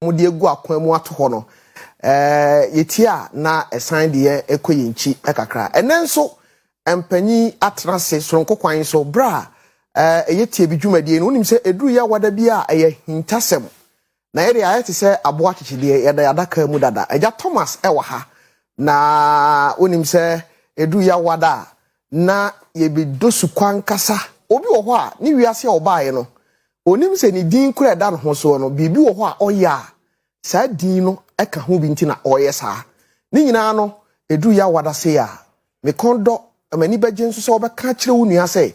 wɔn de agu akwan mu ato hɔ no ɛɛ yɛtie a na ɛsan de yɛn ɛkɔ yɛn nkyi kakra ɛnɛ nso mpanyin atena ase soronko kwan so bere a ɛyɛ tie bi dwumadie no wonim sɛ ɛduru yɛ awada bi a ɛyɛ hintasɛm Na yɛdeɛ ayɛ te sɛ aboɔ akyekyedeɛ, yɛda yɛn adaka mu dada. Agya Thomas wɔ ha, na wonim sɛ ɛduru Yawada a, na yɛbɛdɔ sukɔ ankasa. Obi wɔ hɔ a, ne wiase a ɔbaeɛ no, ɔnim sɛ ne din kura ɛda ne ho soɔ no, biribi wɔ hɔ a ɔyɛ a saa din no ka ho bi nti na ɔreyɛ saa. Ne nyinaa no, ɛduru Yawada sei a, me kɔn dɔ, na m'ani bɛgye nso sɛ wobɛka akyerɛ wo nua sɛ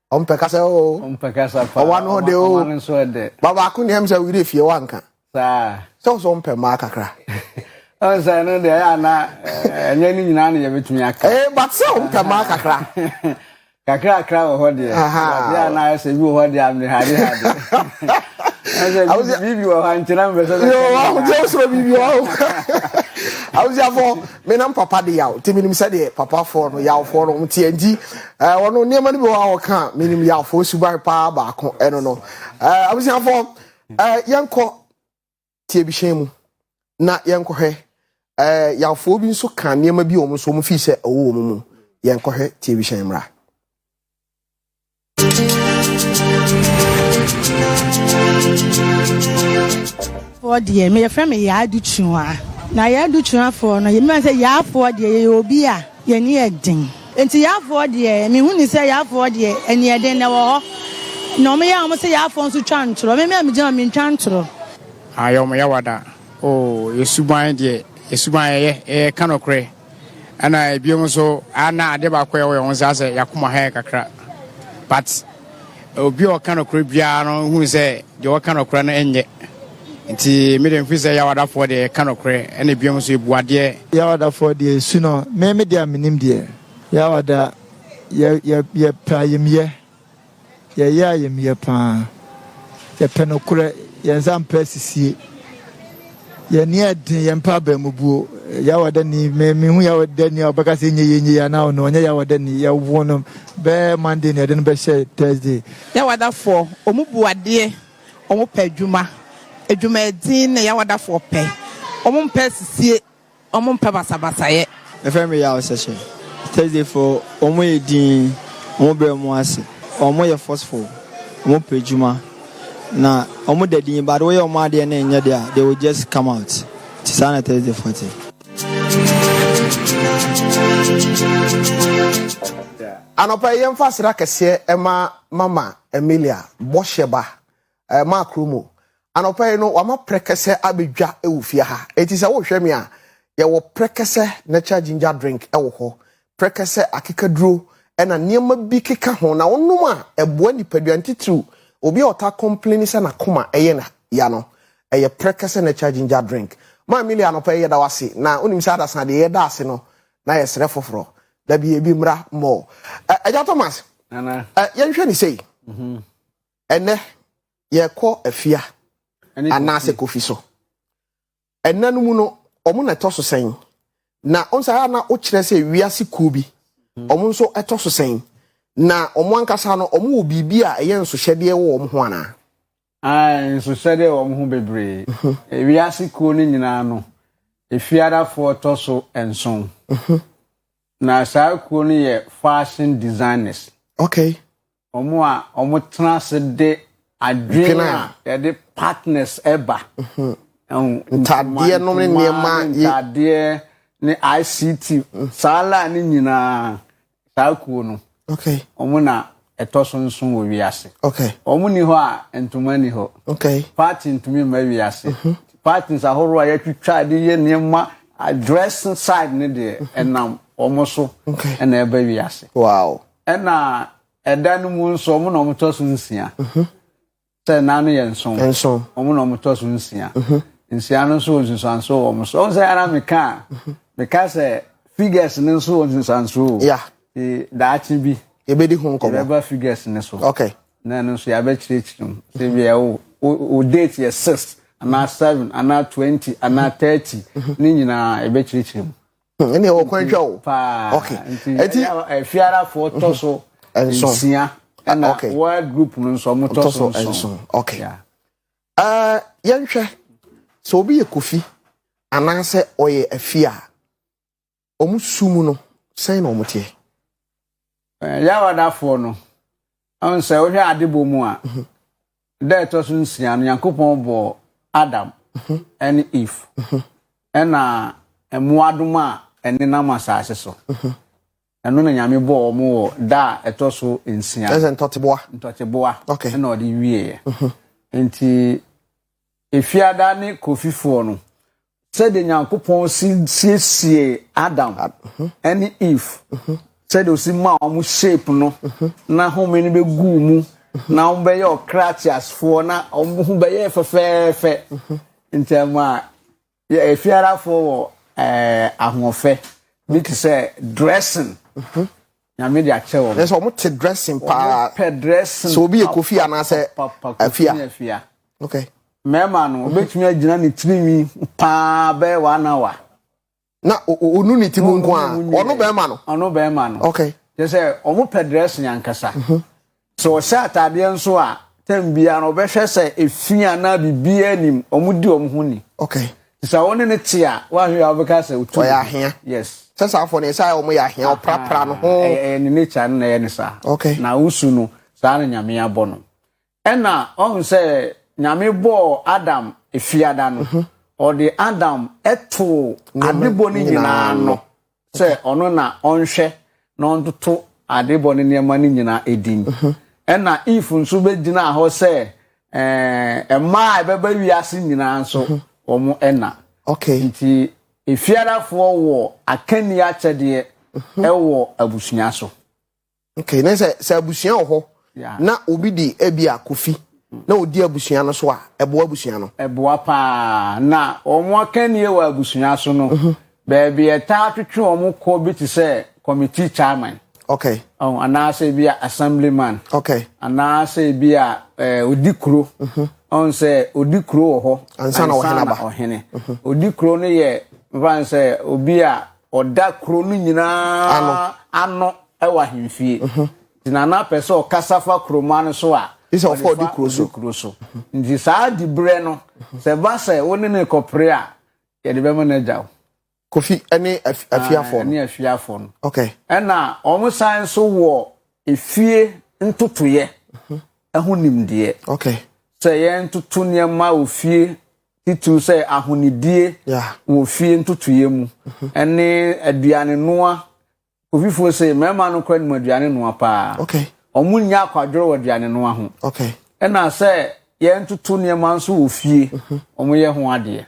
ɔmpɛ kasa o ɔmpɛ kasa paa ɔwa no de o ɔma no nso ɛdɛ ba baako nea sɛ wiri fie wanka saa sɛ ɔsɛ ɔmpɛ maa kakra ɔnsɛ no deɛ ɛyɛ ana ɛnyɛ ne nyinaa na yɛbɛtumi aka ee eh, but sɛ ɔmpɛ maa kakra kakrakra wɔ hɔ deɛ ɛyɛ ana ɛsɛ bi wɔ hɔ deɛ amehade hade ɛsɛ biribi wɔ hɔ ankyerɛ mpɛ sɛ bɛsɛ biribi wɔ hɔ abusuafoɔ Me nam papa de yaw nti menim sɛdeɛ papafoɔ no yawfoɔ no wɔn teɛ nti ɛɛ wɔn nneɛma no bi wɔ a wɔka a menim yawfoɔ suban paa baako ɛno no ɛɛ abusuafoɔ ɛɛ yɛnkɔ tiebihyɛn mu na yɛnkɔhwɛ ɛɛ yawfoɔ bi nso ka nneɛma bi wɔn nso wɔn fi sɛ ɛwɔ wɔn mu yɛnkɔhwɛ tiebihyɛn mmra. foɔ deɛ meyɛfrɛ me yɛ adutwua na yɛ adutwuafoɔ no yɛmima sɛ yɛafoɔ deɛ yɛyɛ obi a yɛne yɛ den nti yɛafoɔ deɛ mehu ne sɛ yɛafoɔ deɛ ɛne yɛ den na ɛwɔ hɔ na wɔn yɛ a wɔn sɛ yɛafoɔ nso twa ntorɔ mɛmɛ a megyina wɔn mentwa ntorɔ. ayɛ wɔn yawada oo yɛsuban deɛ yɛsuban yɛyɛ yɛyɛ kanɔkorɛ. Ɛna ebiom nso a na ade baako a ɛwɔ yɛn ho nsa sɛ yakoma ha yɛ kakra but obi a ɔka nɔkorɛ biara no hu sɛ deɛ ɔka nɔkorɛ no nyɛ nti me deɛ mfiri sɛ yawadafoɔ deɛ ɛka nɔkorɛ ɛna ebiom nso ebu adeɛ. Yawadafoɔ deɛ esu no me me deɛ a menim deɛ yawada yɛ yɛ yɛ pɛ ayamyɛ. Yɛyɛ ayamyɛ paa. Yɛpɛ nokorɛ. Yɛn nsa mpɛ asisie. Yɛn ani yɛ den. Yɛmpɛ abaamubuo. Yawa da ni. Me me hu yawa da ni a ɔbɛka sɛ enye yɛ enye yɛ anaa ɔno ɔnyɛ yawa da ni. Yɛwo no bɛɛ Monday na yɛde no bɛhyɛ Thursday. Yawadafoɔ, wɔn bu adeɛ. Wɔpɛ adwuma. Adwumadin na yawadafoɔ pɛ. Wɔmpɛ asisie. Ɔmo mpɛ basabasayɛ. Yɛfrɛ me Yaw Sɛhyɛ. Thursday foɔ ɔmo yɛ dinn, ɔmo brɛ ɔmo ase, ɔmo yɛ forceful, ɔmo pɛ adwuma na ɔmo da dinn but woyɛ ɔmo adeɛ na ɛnyɛ dɛ a they will just come out nti saa na Thursday foɔ te. Anɔpa yi yɛmfa aseda kɛseɛ ma Mama Emilia Bɔhyɛba Eh, Mark Romo, anɔpa yi no wama prɛkɛsɛ abɛdwa wɔ fie ha. Enti sɛ wohwɛ me a, yɛwɔ prɛkɛsɛ natural ginger drink wɔ hɔ, prɛkɛsɛ akekaduro ɛna nneɛma bi keka ho na wonom a ɛboa nipadua no titiriw obi a ɔtaa kɔmpleni sɛ n'akoma ɛyɛ no ya no. Ɛyɛ prɛkɛsɛ natural ginger drink. Ma Emilia anɔpa yi yɛda wo ase na wonim sɛ adasa deɛ yɛda ase no na yɛsrɛ foforɔ da bi ebi mmra mmɔ. Ɛ, Agya Thomas, Nana. ɛ, yɛnhwɛ ne sei. Mhm. Ɛnnɛ, yɛkɔ afia anaasɛ kofi so. Ɛnna no mu no, wɔn na ɛtɔ so sɛn? Na wɔn sɛ ayɛ na wokyerɛ sɛ wiase kuo bi, wɔn hmm. nso ɛtɔ so sɛn? Na wɔn ankasa no, wɔn wɔ biribi a ɛyɛ nsohyɛdeɛ wɔ wɔn ho anaa? Nsohyɛdeɛ wɔ wɔn ho bebree. Mhm. Eh, wiase kuo no nyinaa no, efiadafoɔ tɔ so nson. Mhm. Na saa kuo no yɛ fashion designers. Okay. Wɔn a wɔtena ase de adwene a yɛde partners ɛba. Mhm. Ntadeɛ nom ne nneɛma. Ntadeɛ ne ICT. Mm. Saa laa ne nyinaa saa kuo no. Okay. Wɔn na ɛtɔ so nso wɔ wiase. Okay. Wɔn ni hɔ a ntoma ni hɔ. Okay. Party ntumi mma wiase. Mhm. Parties ahorow a yɛtwitwa de yɛ nneɛma dressing side ne deɛ mhm. ɛnam wɔn so ɛna ɛba wiase. Wow. ɛna ɛda no mu nso ɔmo na ɔmo tɔ so nsia mhm. sɛ nan no yɛ nson nson ɔmo na ɔmo tɔ so nsia mhm. nsia no nso wɔ nsunsuanso wɔ ɔmo so ɔmo sɛ ara meka a mhm. meka sɛ figures no nso wɔ nsunsuanso o daakye bi yɛbɛdi ho nkɔmɔ yɛbɛba figures no so okay na ɛno nso yɛabɛkyerɛkyerɛ mu sɛ bia o o date yɛ six anaa seven anaa twenty anaa thirty ne nyinaa yɛbɛkyerɛkyerɛ mu. Hmm, ɛnna ɛwɔ kwan twa o. paa okay nti ɛti afiarafoɔ tɔ so nsia ɛna okay wɔn group no nso wɔn tɔ so nson okay ɛɛ uh, yɛnhwɛ sɛ obi yɛ kofi anaasɛ ɔyɛ afia wɔn su mu no sɛn na wɔn teɛ. Yawadafoɔ no, ɔn sɛ wohwɛ adebɔ mu a, mhm. da ɛtɔ so nsia no Nyankopɔn bɔɔ Adam mhm. ɛne Eve mhm. ɛna mmoadoma a ɛnenam asase so. Ɛno na Nyame bɔɔ wɔn wɔ da a ɛtɔ so nsia. Ɛsɛ ntɔteboa. Ntɔteboa. Okay. Ɛna ɔde wieɛ. Nti Efiada ne Kofifoɔ no, sɛdeɛ Nyankopɔn si siesiee Adam ne Eve, sɛdeɛ ɔsi maa wɔn shape no, na home no bɛgu mu, na wɔn bɛyɛ ɔkra teasefoɔ, na wɔn ho bɛyɛ fɛfɛɛfɛ, ntɛm a Yɛ efiarafoɔ wɔ ɛɛ ahoɔfɛ bi te sɛ dressing. Mhm. Nyame de akyɛ wɔn. Ɛsɛ wɔn te dressing paa. Wɔn pɛ dressing. Sɛ obi yɛ kofi anaasɛ afia. Afia. Okay. Mɛɛma no obetumi agyina ne tirinwi paa bɛyɛ one hour. Na onu ne ti mu nko a ɔno bɛɛma no. Ɔno bɛɛma no. Okay. Kyerɛ sɛ wɔn pɛ dressing ankasa. Mhm. Sɛ wɔhyɛ ataadeɛ nso a, tɛm biara no wɔbɛhwɛ sɛ efi anaa biribiara nnim. Wɔdi wɔn ho ni. Okay. Nti sɛ wo ne no te a, woanhwɛ a wobɛka sɛ otu ne ho. Ɔyɛ ahea. Yes. Sɛ saa afɔ no ɛsɛ ayɛ wɔn yɛ ahea, ɔprapra ne ho. Ɛyɛ ɛyɛ ne nature no na ɛyɛ ne saa. Okay. Na wo su no, saa na Nyame abɔ no. Ɛna ɔhu sɛ Nyame bɔɔ Adam efiada no, ɔde Adam too adebɔ no nyinaa ano. sɛ ɔno na ɔnhwɛ na ɔntoto adebɔ ne nneɛma no nyinaa din mhm. ɛna if nso bɛgyinaa hɔ sɛ ɛmaa eh, ɛbɛba wiase nyinaa nso mhm. wɔn ɛna nti efiarafoɔ wɔ akanni akyɛdeɛ mhm. ɛwɔ abusua so okay ne sɛ sɛ abusua wɔ hɔ na obi di ebi a kofi na odi abusua no so a ɛboa abusua no. ɛboa paa na wɔn akannie wɔ abusua so no mhm. baabi ɛtaa twetwe wɔn kɔ bi te sɛ committee chairman. okay ɔn anaasɛ ebi a assemblyman. okay anaasɛ ebi a ɛɛ eh, odi kuro. Mhm. ɔn sɛ odi kuro wɔ hɔ. ansa na ɔhene aba ɔhene mhm. odi kuro no yɛ nfa sɛ obi a Ɔda kuro no nyinaa ano wɔ ahemfie. Nti na na apɛ sɛ ɔkasa fa kurom ano so a. Isɛ ɔfa ɔdi kuro so. kuro so. Nti saa di berɛ no sɛ ba sɛ wo ne ne kɔpere a yɛde bɛma no agya wo. Kofi ne afiafoɔ ah, no. Ne afiafoɔ no. Okay. Ɛna wɔn san nso wɔ efie ntotoyɛ ɛho nimdeɛ. Okay. Sɛ yɛn toto nneɛma wɔ fie titiriw sɛ ahonidie wɔ fie ntotoeɛ mu mhm. ne aduane noa kofifoɔ se mmarima no kora nim aduane noa paa wɔn nyɛ akwadworɔ wɔ aduane noa ho ɛna sɛ yɛntoto nneɛma nso wɔ fie mhm. wɔn yɛ ho adeɛ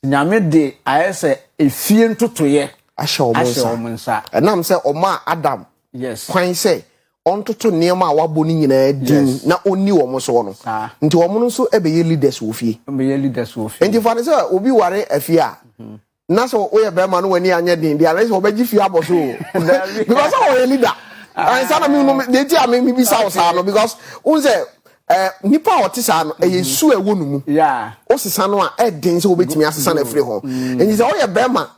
nyame de ayɛ sɛ efie ntotoeɛ ahyɛ wɔn nsa ɛnam sɛ wɔn a adam kwan sɛ ɔntoto nneɛma a wabɔ no nyinaa din na ɔnni wɔn soɔ no. Nti wɔn no nso bɛyɛ leaders wɔ fie. Bɛyɛ leaders wɔ fie. Nti fa no sɛ obi ware afie a, na sɛ woyɛ bɛrima no w'ani anyɛ den deɛ anayɛ sɛ wɔbɛgye fie abɔ so o. Because sɛ wɔyɛ leader. Ansa na mehu no, deɛ nti a mebisa wo saa no, because wohu sɛ eh, nipa a ɔte saa no, ɛyɛ mm-hmm. su a ɛwɔ no mu. Wosesa no a, ɛden sɛ wobɛtumi asesa no afiri ho. Mm-hmm. Nti sɛ woyɛ bɛrima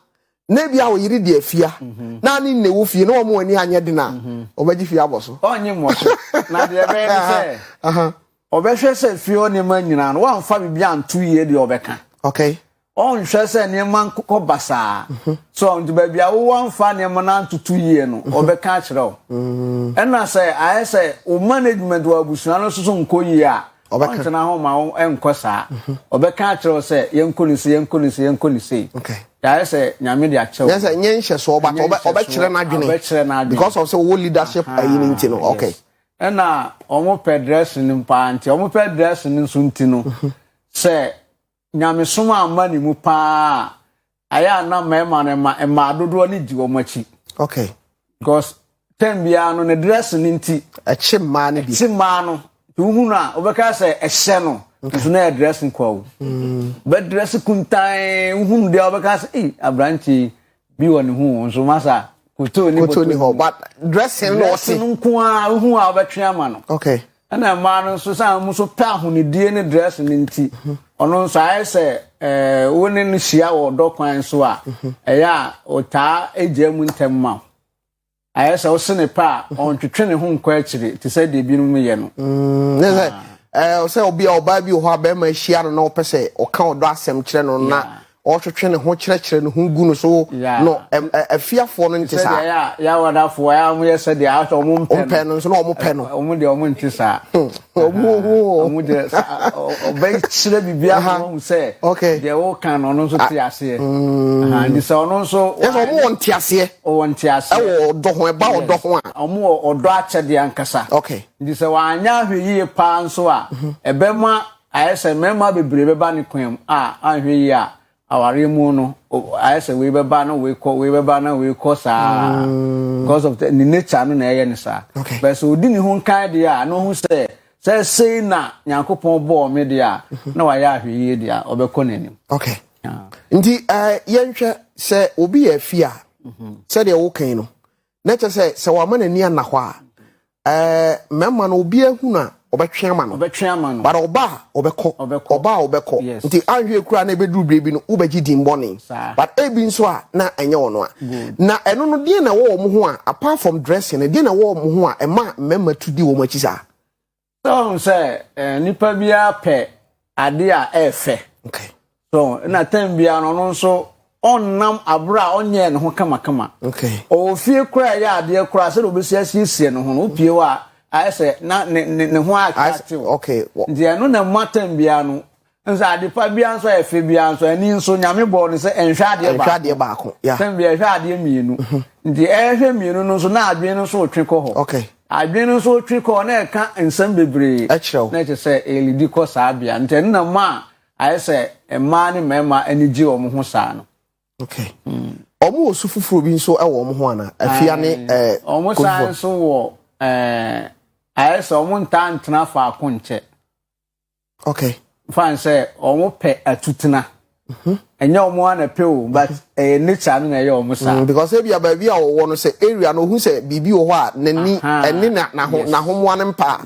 na ebi a ɔyere di afia mhm. na ne nne wo fie na wɔn ani anyɛ den a mhm. ɔbɛgye fie abɔ so. ɔnye mmɔ so na deɛ ɛbɛyɛ ne sɛ ɔbɛhwɛ sɛ fie hɔ nneɛma nyinaa no wɔamfa biribi anto yie deɛ ɔbɛka. okay. ɔnhwɛ sɛ nneɛma nkokɔ basaa mhm. so nti baabi a wowɔ mfa nneɛma no antoto yie no ɔbɛka akyerɛ wo ɛna sɛ ayɛ sɛ wo management wɔ abusua no soso nkɔ yie a Ɔbɛka. Ɔntena hɔ ma wo ɛnkɔ saa. Ɔbɛka akyerɛ wo sɛ yɛnkɔ no sei, yɛnkɔ no sei, yɛnkɔ no sei. Okay. Yɛayɛ sɛ Nyame de akyɛ wo. Nyɛ sɛ nyɛ nhyɛsoɔ but ɔbɛ ɔbɛkyerɛ n'adwene. Ɔbɛkyerɛ n'adwene. Because of sɛ ɔwɔ leadership ayi no nti no. Okay. Ɛna wɔpɛ dressing no paa nti, wɔpɛ dressing no nso nti no, sɛ nyamesom amma ne mu paa a ayɛ a na mmarima no ma mmaa dodoɔ no di wɔn akyi okay because tɛm biara no ne dress no nti ɛkye mmaa no bi ɛkye mmaa no nti wohu no a wobɛka sɛ ɛhyɛ no nso na yɛ dress nkwa o mm. bɛ dress kuntan wohu no deɛ wobɛka sɛ ei aberanteɛ yi Bi wɔ ne hu nso masa koto ne koto ni hɔ but dressing no ɔsi. Dressing nko a hu a ɔbɛtwe ama no. Okay. Ɛna mmaa no nso sɛ wɔn nso pɛ ahonidie ne dressing no nti mhm. ɔno nso ayɛ sɛ ɛɛ wo ne no hyia wɔ ɔdɔ kwan so a mhm. ɛyɛ a ɔtaa egya mu ntɛm ma wo. Ayɛ sɛ ɔse ne pɛ a ɔntwetwe ne ho nkɔ akyire te sɛ deɛ binom yɛ no. Ne sɛ ɛɛ sɛ obi a ɔbaa bi wɔ hɔ a bɛrima ahyia no na ɔpɛ sɛ ɔka ɔdɔ asɛm kyerɛ no na ɔtwetwe ne ho kyerɛkyerɛ ne ho gu no so no afiafoɔ no nte saa. Sɛdeɛ ɛyɛ a yɛawadafoɔ a wɔyɛ sɛdeɛ wɔmpɛ no nso na wɔpɛ no. Wɔn deɛ wɔnte saa. ɔmo hu o. ɔmo deɛ ɔbɛkyerɛ biribiara ma wɔn sɛ deɛ wɔka no ɔno nso te ah. aseɛ mm. nti sɛ ɔno nso ɛsɛ ɔmo wɔ nte aseɛ ɔwɔ nte aseɛ ɛwɔ ɔdɔ ho ɛba ɔdɔ ho a ɔmo wɔ ɔdɔ akyɛdeɛ ankasa nti sɛ wɔanya ahwɛ yie paa nso a mhm. ɛbɛma ayɛ sɛ mmarima bebree bɛba ne kwan mu a anhwɛ yie a Awareɛ mu no ayɛ sɛ wei bɛba na wei kɔ wei bɛba na wei kɔ saa mm. because of the, ne nature no na ɛyɛ ne saa okay. but so odi ne ho nkan deɛ a na ɔhu sɛ sɛ sei na nyankopɔn bɔɔ me deɛ a mhm. na wayɛ ahwɛyie deɛ a ɔbɛkɔ n'anim okay. yeah. nti uh, yɛnhwɛ sɛ obi yɛ afi a mhm. sɛdeɛ wokan no na kyɛ sɛ sɛ wama n'ani anna hɔ a ɛɛ mmarima no obi ahunu a ɔbɛtwe ama no ɔbɛtwe ama no bara ɔba a ɔbɛkɔ ɔba a ɔbɛkɔ nti anhwɛ ekura na ebeduru biribi no wobɛgye din bɔne but ebi nso a na ɛnyɛ wɔn a na ɛno no deɛ na ɛwɔ wɔn ho a apart from dressing no deɛ na ɛwɔ wɔn ho a ɛma mmarima tu di wɔn akyi saa. So ɔn sɛ eh, nipa biara pɛ ade a ɛɛfɛ. Okay. So na tɛm biara no ɔno nso ɔnam abere a ɔnyɛɛ ne ho kamakama. Okay. Ɔwɔ fie koraa ɛyɛ adeɛ koraa sɛdeɛ ɔbɛsi asiesie ne ho no wopie hɔ a ayɛ sɛ na ne ne ne ho atwa tew. Okay. Nti ɛno na ɛma tɛm biara no Nso ade pa biara nso a ɛfɛ biara nso ani nso nyame bɔɔ no sɛ ɛnhwɛ adeɛ baako ɛnhwɛ adeɛ baako yeah. sɛ bia ɛhwɛ adeɛ mmienu mhm. nti ɛhwɛ mmienu no nso na adwene no nso retwe kɔ hɔ okay. adwene no nso retwe kɔ na ɛka nsɛm bebree ɛkyerɛw na ɛkyɛ sɛ ɛlidi kɔ saa bia nti ɛno na ma a ayɛ sɛ mmaa ne mmarima ani gye wɔn ho saa no okay. mm. wɔn wɔ su foforɔ bi nso wɔ wɔn ho ana afia ne ɛɛ wɔn san nso wɔ ɛɛ ayɛ sɛ wɔn ntaa ntena faako nkyɛ okay fan sɛ wɔn pɛ atutena mhm. ɛnyɛ wɔn a na pɛ o but mhm. ɛyɛ nature no na ɛyɛ wɔn saa. Mm, because ebi abaabi a wɔwɔ no sɛ area no ohun sɛ biribi wɔ hɔ a n'ani ɛne na n'aho n'ahomoa no mpa.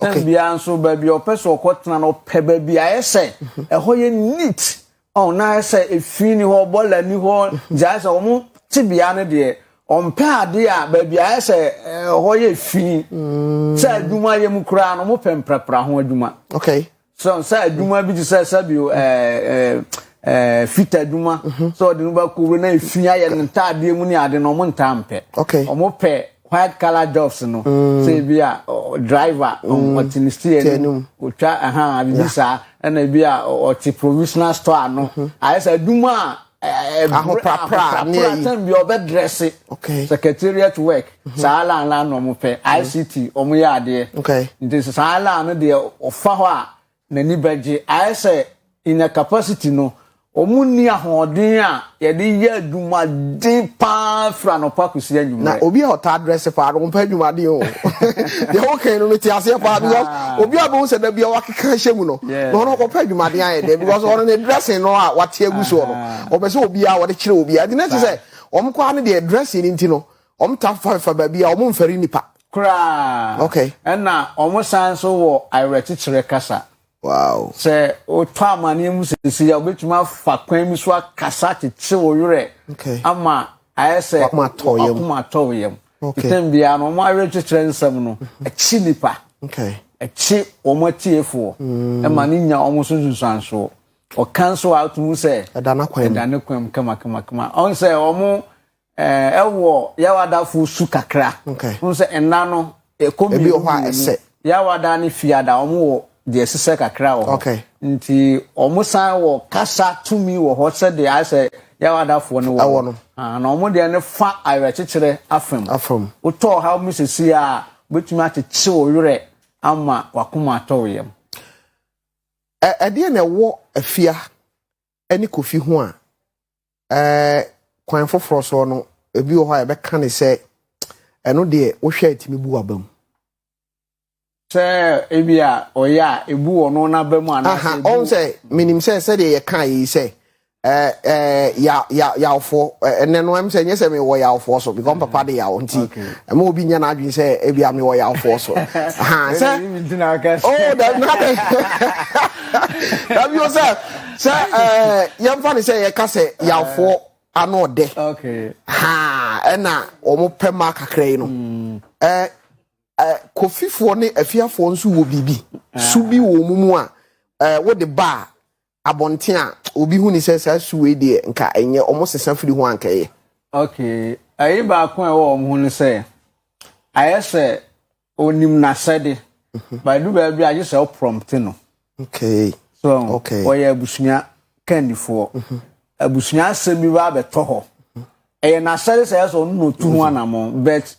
tɛn bia nso baabi a ɔpɛ so ɔkɔ tena no ɔpɛ baabi a ayɛ sɛ mhm. ɛhɔ yɛ neat Ɔn na ayɛ sɛ efi ni hɔ, bɔla ni hɔ, gya ayɛ sɛ wɔn tebea no deɛ wɔmpɛ adeɛ a baabi ayɛ sɛ ɛhɔ yɛ fi. Mm. Sɛ adwuma yɛ mu koraa no, wɔpɛ mprapra ho adwuma. Okay. So sɛ adwuma bi te sɛ sɛbio ɛɛ Eh, fita adwuma mhm. sɛ ɔde no bɛkɔ wura na efi ayɛ ne ntaadeɛ mu ne ade no ɔmo ntaa mpɛ ɔmo pɛ white color jobs no mm. sɛ ebi a driver mm. ɔte ne steer no ɔtwa ɛha bibi saa ɛna ebi a ɔte provisional store ano mm-hmm. ayɛ sɛ adwuma a ahoprapra ne ayi sɛn bi ɔbɛ drɛse secretariat work mm-hmm. saa lan lan na ɔmo pɛ mm-hmm. ict ɔmo yɛ adeɛ nti saa lan no deɛ ɔfa hɔ a n'ani bɛgye. Ayɛ sɛ in their capacity no, wɔn nni ahoɔden a yɛde yɛ adwumaden paa firi anɔpa kɔsi anwummerɛ. Na obi a ɔtaa drɛse paa no, ɔmpɛ adwumaden o. Deɛ wokae no, mete aseɛ paa because obi a wobɛhu sɛ da biara wakeka ahyɛ mu no, na ɔno ɔkɔpɛ adwumaden ayɛ dɛn because ɔno ne dressing no a wate agu soɔ no, ɔpɛ sɛ obiara wɔde kyerɛ obiara. Nti na ɛte sɛ wɔn koraa no deɛ dressing no nti no, Wɔtaa fa fa baabi a wɔmfɛre nnipa. Koraa. Okay. Ɛna wɔsan nso wɔ awerɛkyekyerɛ kasa. Wow. Sɛ wotɔ amaneɛ mu sɛsɛ a wobɛtumi afa kwan bi so akasa kyekye wo werɛ. Okay. Ama ayɛ sɛ wakoma atɔ wo yam. Okay. Ntɛm biara no wɔn awerɛkyekyerɛ nsɛm no mm-hmm. ɛkyi nipa. Okay. Ɛkyi wɔn atiefoɔ. Mm. Ɛma ne nya wɔn so nsunsuansoɔ. Ɔka nso a wotumu sɛ ɛda ne kwan mu kama kama kama. Ɔn sɛ wɔn Eh, ɛwɔ yawada fo su kakra. Okay. N sɛ ɛna no ɛkɔ mmienu. Ebi wɔ hɔ a ɛsɛ. Yawada ne fiada wɔn wɔ deɛ ɛsesɛ kakra wɔ hɔ. Okay. Nti wɔn san wɔ kasa tumi wɔ hɔ sɛdeɛ ayɛ sɛ yawadafoɔ no wɔ. Ɛwɔ no. Ah, na wɔn deɛ ne fa awerɛkyekyerɛ afam. Afam. Wotɔ ɔhaw mu sisi a wobɛtumi akyekye wo werɛ ama wakoma atɔ wo yam. Ɛdeɛ na ɛwɔ afia ne Kofi ho a, ɛɛ kwan foforɔ soɔ no, ebi wɔ hɔ a yɛbɛka ne sɛ ɛno deɛ wohwɛ a ɛtumi bu w'aba mu. sɛ ebi a ɔyɛ a ebu ɔno n'aba mu anaasɛ ebu. ɔn sɛ menim sɛ sɛdeɛ yɛka yi sɛ ɛɛ ɛɛ ya ya yawfoɔ ɛnɛ no ɛm sɛ nyɛ sɛ mewɔ yawfoɔ so because papa de yaw nti ɛma obi nyɛ n'adwene sɛ ebi a mewɔ yawfoɔ so ha sɛ oo dabi na dabi o sɛ sɛ ɛɛ yɛmfa ne sɛ yɛka sɛ yawfoɔ ano ɔdɛ haa ɛna wɔn pɛ ma kakra yi no mm. ɛɛ ɛɛ kofifoɔ ne afiafoɔ nso wɔ biribi ah. su bi wɔ wɔn mu a ɛɛ wɔde baa abɔnten a obi hu ne sɛ saa su wei deɛ nka ɛnyɛ wɔn sesa firi ho anka ɛyɛ. okay ɛyi baako a ɛwɔ wɔn ho no sɛ ayɛ sɛ Onim n'asɛde. But ɛdu baabi a, gye sɛ wo prompt no. Okay. So, okay. wɔyɛ abusua kandifoɔ. Mm-hmm. Abusua asɛm bi baa bɛtɔ hɔ. Ɛyɛ n'asɛde sɛ ɛsɛ ɔno na ɔtu ho anamɔ. But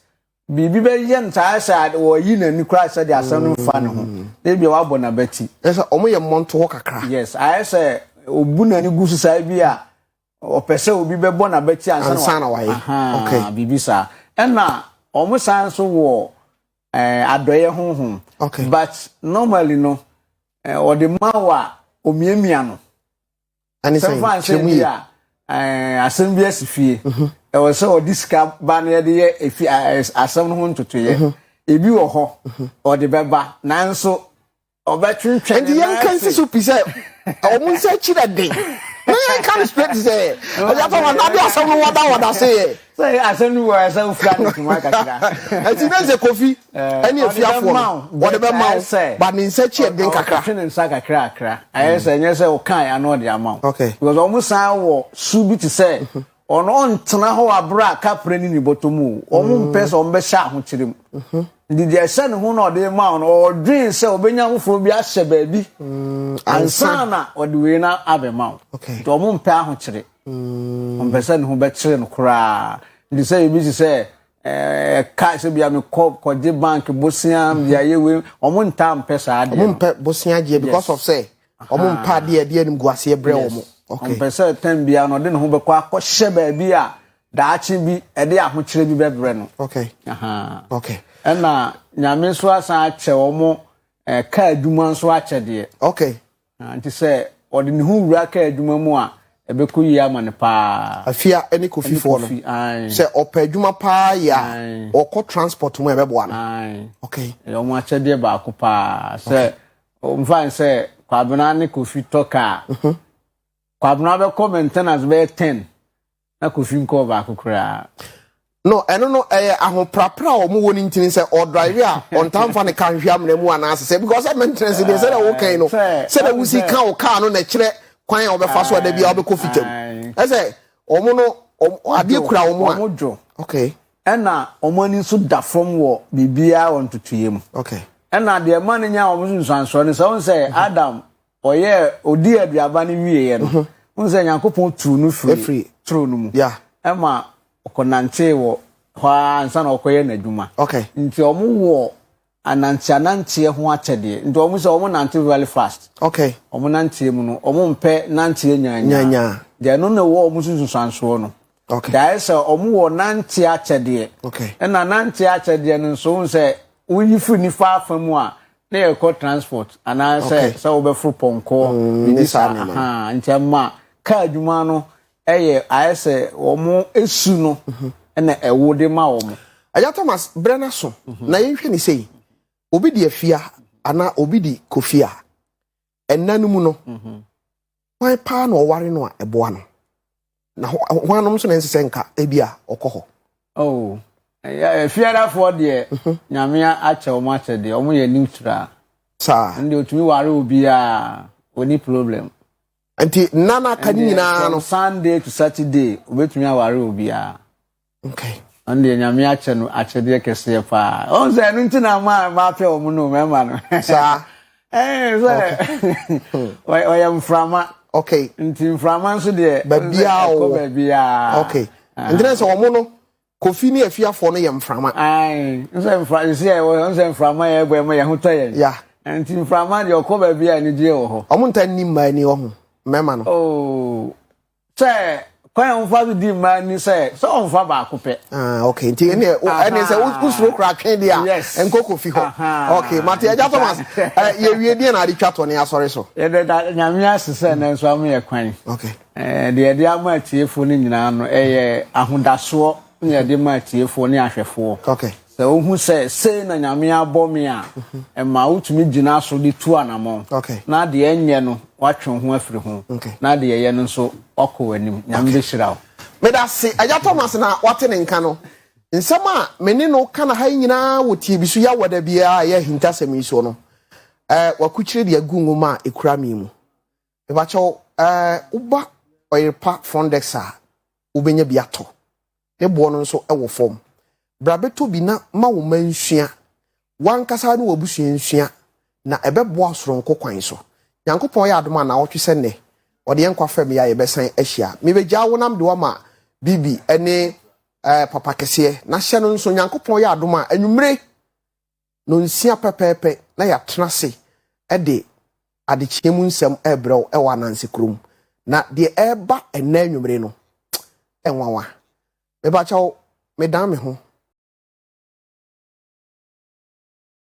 biribi bɛyɛ no saa sɛ wɔyi n'ani koraa sɛ de asɛm no mfa ne ho mm. na ebia wabɔ n'abati ɛsɛ wɔn yɛ mmɔnto hɔ kakra yes ayɛ sɛ obu n'ani gu so saa bi a ɔpɛ sɛ obi bɛbɔ n'abati ansa na wayɛ okay biribi saa ɛna wɔn san nso wɔ ɛɛ eh, adɔyɛ honhom okay but normally no ɛɛ eh, ɔde ma wo a omiamia no ɛne sɛ kyerɛmu yi a ɛɛ eh, asɛm bi asi fie mhm. ɛwɔ sɛ ɔde sika ba no yɛde yɛ efi asɛm no ho ntotoyɛ mhm. ebi wɔ hɔ mhm. ɔde bɛba nanso nti yɛnka nsi so pi sɛ ɛwɔ mo nsa akyi dɛ den na yɛnka no straight sɛ ɔyɛfa ma nade asɛm no wɔda wɔda se yɛ sɛ asɛm no wɔ ɛsɛ wofira no ntoma kakra ɛti na sɛ kofi ɛne afiafoɔ no wɔde bɛma wo ba ne nsa akyi ɛden kakra ɔtwe ne nsa kakra kakra ayɛ sɛ ɛnyɛ sɛ wokae ano ɔde ama wo because ɔmo san wɔ su bi te sɛ Wɔnntena hɔ aber a kapra nyi bɔtɔ mu o, wɔmmpɛ sɛ wɔbɛhyɛ ahokyere mu. Ntsi dza ɛhyɛ no ho na ɔdze rema wo no, ɔrodwen sɛ obenya afofor bi ahyɛ beebi ansaana ɔdze wei no abɛma wo. Ntsi wɔmmpɛ ahokyere. Wɔmmpɛ sɛ no ho bɛkyere no koraa. Ntsi sɛ ibi tse sɛ cash sɛ bia mekɔ kɔgye bank bosea medze ayɛ wei, wɔnntaa mmpɛ saa adeɛ no. Wɔmmpɛ bosea gyeɛ because of sɛ Wɔn mpa adeɛ ɛde animguaseɛ brɛ wɔn. Ɔmpɛ sɛ tɛm biara no ɔde ne ho bɛkɔ akɔhyɛ baabi a daakye bi ɛde ahokyerɛ bi bɛbrɛ no. Ɛna nyame nso asan akyɛ wɔn eh, kaa adwuma nso akyɛdeɛ. Ah, nti sɛ ɔde ne ho wura kaa adwuma mu a ɛbɛkɔ yie ama no paa. Afia ne kofifoɔ no sɛ ɔpɛ adwuma paa yɛ a ɔkɔ transport mu ɛbɛboa no. Ɛyɛ wɔn akyɛdeɛ baako paa sɛ Ɔmfa no sɛ Kwabena ne Kofi tɔ kaa a, Kwabena bɛkɔ maintenance bɛyɛ ten na Kofi nkɔɔ baako koraa. No, ɛno no ɛyɛ ahoprapra a wɔwɔ no ntini sɛ ɔdrive a ɔntaa mfa ne car nhwɛ amena mu anaase sɛ because sɛ maintenance deɛ sɛdeɛ wokan no sɛdeɛ wosi ka wo car no na ɛkyerɛ kwan a wɔbɛfa so a da biara wobɛkɔ fitam ɛsɛ wɔn no adeɛ kura wɔn a okay Ɛna wɔn ani nso da fam wɔ biribiara wɔ ntotoeɛ mu. Okay. Ɛna deɛ ɛma no nya wɔn so nsuansoɔ no sɛ wɔn sɛ mhm. Adam ɔyɛ ɔdi aduaba no wieɛ no mhm. wɔn sɛ Nyankopɔn tuu no firi turo no mu ɛma ɔkɔnantee wɔ hɔ ara ansa na ɔkɔyɛ n'adwuma. Okay. Nti wɔn wɔ Anantseanantseɛ ho akyɛdeɛ nti wɔn sɛ wɔn nante very fast. Okay. Wɔn nanteɛ mu no wɔn mpɛ nanteɛ nyaanyaa. Nyaanyaa. Deɛ ɛno na ɛwɔ wɔn sunsunsuansoɔ no. Okay. Deɛ ayɛ sɛ wɔn wɔ nanteɛ akyɛdeɛ. Okay. Ɛna nanteɛ akyɛdeɛ no nso wɔn sɛ woyi firi nifa afa mu a na yɛkɔ transport anaasɛ sɛ wobɛforo pɔnkɔ mm, ne saa nti ɛma kaa adwuma no ɛyɛ ayɛ sɛ wɔn su no na ɛwo de ma wɔn. ɛyà thomas brɛ n'aso mhm. na yɛnhwɛ ne sɛyi obi di afia anaa obi di kofia ɛnna no mu no mhm. wɔn paa na ɔware no a ɛboa no na wɔn anom nso na ɛnsɛ sɛ nka ebi a ɔkɔ hɔ. Oh, afiadafoɔ deɛ mhm. nyame akyɛ wɔn akyɛ deɛ wɔn yɛ neutral. saa ɛnna otumi ware obiara wɔn ni problem. Nti nna no aka no nyinaa no. From Sunday to Saturday obetumi aware obiara. Okay. Ɔno deɛ nyame akyɛ no akyɛdeɛ kɛseɛ paa. Ɔn sɛ ɛno nti na maa maa pɛ wɔn no mɛma no. Saa. Ɛɛ sɛ ɔyɛ mframa. Okay. Nti mframa nso deɛ. Baabiara wɔ. Ɛkɔ baabiara. Okay. Ntina sɛ wɔn no. Kofi ne afiafoɔ no yɛ mframa. Ae, nsɛ mfra, sisi a ɛwɔ hɔ, nsɛ mframa yɛ ɛbɔ ɛma yɛ ho tɔ yɛn. Ya. Nti mframa deɛ ɔkɔ baabi a anigyeɛ wɔ hɔ. Ɔmo nta nni mmaa ni ɔho, mmarima no. Oh, sɛ kwan a wɔfa so di mmaa ni sɛ sɛ ɔnfa baako pɛ. Ah, okay, nti ɛne ɛne sɛ wosuro kora atwe deɛ a, yes. ɛnkɔ kofi hɔ. Okay, mate agya Thomas, yɛwie deɛ na ade twa tɔ ne asɔre so. Yɛde da nyame ase sɛ nanso ama yɛ kwan. Okay. Deɛ yɛde ama atiefoɔ no nyinaa no, ɛyɛ ahodasoɔ na yɛde ma atiefoɔ ne ahwɛfoɔ. Okay. Sɛ wohu sɛ sei na Nyame abɔ me a, mhm. ɛma wotumi gyina so de tu anamɔn. Okay. Na deɛ ɛnyɛ no, watwe ho afiri ho. Okay. Na deɛ ɛyɛ no nso, wakɔ w'anim. Nyame bɛhyira wo. Meda se, Agya Thomas na wate ne nka no. Nsɛm a me ne no ka na ha yi nyinaa wɔ tie bi so yɛ awɔda biara a ɛyɛ ahintasɛm yi so no, eh, wakukyire de agu nwoma a ɛkura me mu. Mepakyɛw eh woba Ɔyerepa front desk a wobenya bi atɔ. Ne boɔ no nso wɔ fam. Bra bɛtɔ bi na ma wo mma nsua, w'ankasa ne w'abusua nsua na ɛbɛboa soronko kwan so. Nyankopɔn yɛ adom a naawɔtwe sɛ nnɛ ɔde yɛn nkwa fam yɛ a yɛbɛsan ahyia. Mebegyaa wo na mede wo ama Bibi ne eh Papa kɛseɛ na hyɛ no nso Nyankopɔn yɛ adom a anwummere Nnɔnsia pɛpɛɛpɛ na yɛatena ase de adekyeɛ mu nsɛm rebrɛ wo wɔ Ananse kurom. Na deɛ ɛreba ɛnnɛ anwummere no, ɛnwanwa. Mepa kyɛw, medan me ho.